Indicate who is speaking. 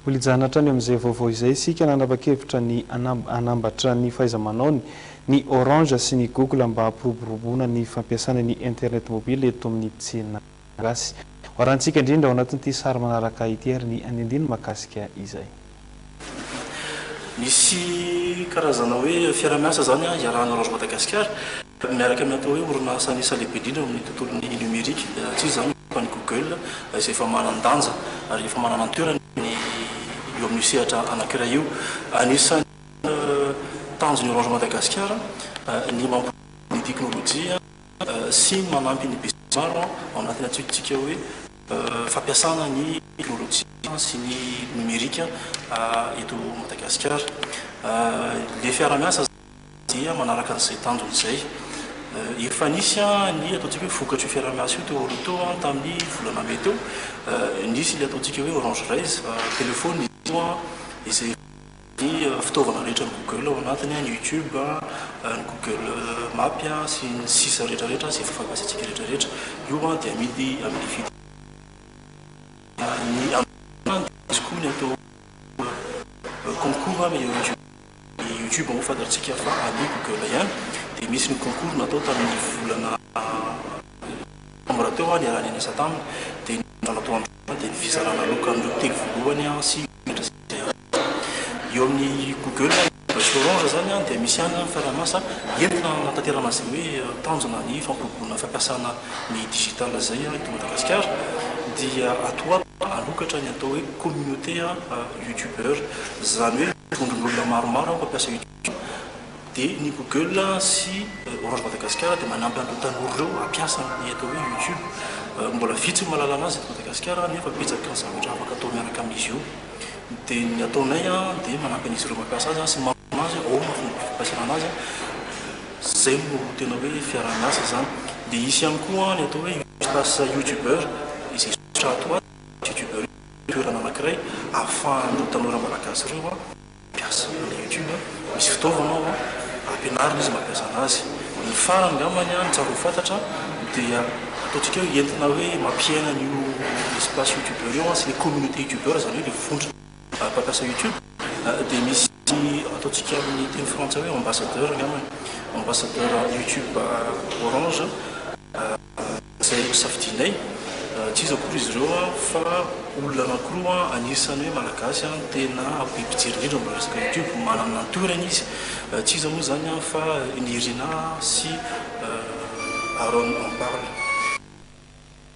Speaker 1: Mbola hijanatra any amin'izay vaovao izay isika, nanapa-kevitra ny hanambatra ny fahaiza-manaony ny Orange sy ny Google mba hampiroboroboana ny fampiasana ny Internet mobile eto amin'ny tsena gasy. Hoarantsika indrindra ao anatin'ity sary manaraka ity ary ny andinindiny mahakasika izay. Misy
Speaker 2: karazana hoe fiaraha-miasa izany iarahan'ny Orange Madagasikara. Ary miaraka amin'ny atao hoe orinasa an'isa lehibe indrindra ao amin'ny tontolon'ny nomerika, dia raha tsy iza izany fa ny Google, izay efa manan-danja ary efa manana ny toerany eo amin'io sehatra anankiray io. Anisan'ny tanjon'ny Orange Madagasikara ny mampiroborobo ny teknolojia sy ny manampy ny besinimaro ao anatin'ny antsojintsika hoe fampiasana ny teknolojia sy ny nomerika eto Madagasikara. Ilay fiaraha-miasa izany. dia manaraka an'izay tanjona izay. Efa nisy ny ataontsika hoe vokatr'io fiaraha-miasa io teo aloha teo tamin'ny volana mey teo. Nisy ilay ataontsika hoe Orange Raise, telefaonina izy io izay ny fitaovana rehetra ny Google ao anatiny, ny YouTube, ny Google Map sy ny sisa rehetrarehetra izay efa fampiasantsika rehetrarehetra. Io dia amidy amin'ny vidiny mirary. Ny amin'ny dia misy koa ny atao hoe concours meilleur jeu. Ny YouTube moa fantatsika fa any Google ihany dia nisy ny concours natao tamin'ny volana novambra teo niaraha nianatra taminy dia ny zavatra atao amin'izao dia ny fizarana loka amin'ireo teny voalohany sy menatra izay azo atao eo amin'ny Google, ny Bus Orange izany dia misy ihany ny fanamasa entina hanatanterana izay hoe tanjona ny fampiroboroana fampiasana ny digital izay eto Madagasikara dia ato ho ato hanokatra ny atao hoe communauté youtubeur izany hoe Vondron'olona maromaro ao mpampiasa YouTube dia ny Google sy Orange Madagascar dia manampy an'ireo tanora ireo hampiasa ny atao hoe YouTube. Mbola vitsy ny mahalala an'azy eto Madagasikara nefa betsaka ny zavatra afaka atao miaraka amin'izy io. Dia ny ataonay dia manampy an'izy ireo mampiasa azy sy manoro azy ahoana no fomba fampiasana an'azy. Izay no tena hoe fiaraha-miasa izany. Dia hisy ihany koa ny atao hoe Youtube Stars Youtubeur izay sosotra ato ho ato. youtubeur io toerana anakiray ahafahan'ireo tanora malagasy ireo mampiasa ny youtube, misy fitaovana ao ampianarina izy mampiasa anazy, ny farany ngambany ny tsara ho fantatra dia ataontsika hoe entina hoe mampiaina an'io espace youtubeur io sy ny communauté youtubeur izany hoe ilay vondrona mpampiasa youtube dia misy ataontsika amin'ny teny frantsay hoe ambassadeur ngambany, ambassadeur youtube orange. izay hosafidianay, tsy iza akory izy ireo fa olona anankiroa anisan'ny hoe Malagasy tena be mpijery indrindra amin'ny resaka YouTube, manana ny toerany izy, tsy iza moa izany fa Nirina sy Aaron en parle.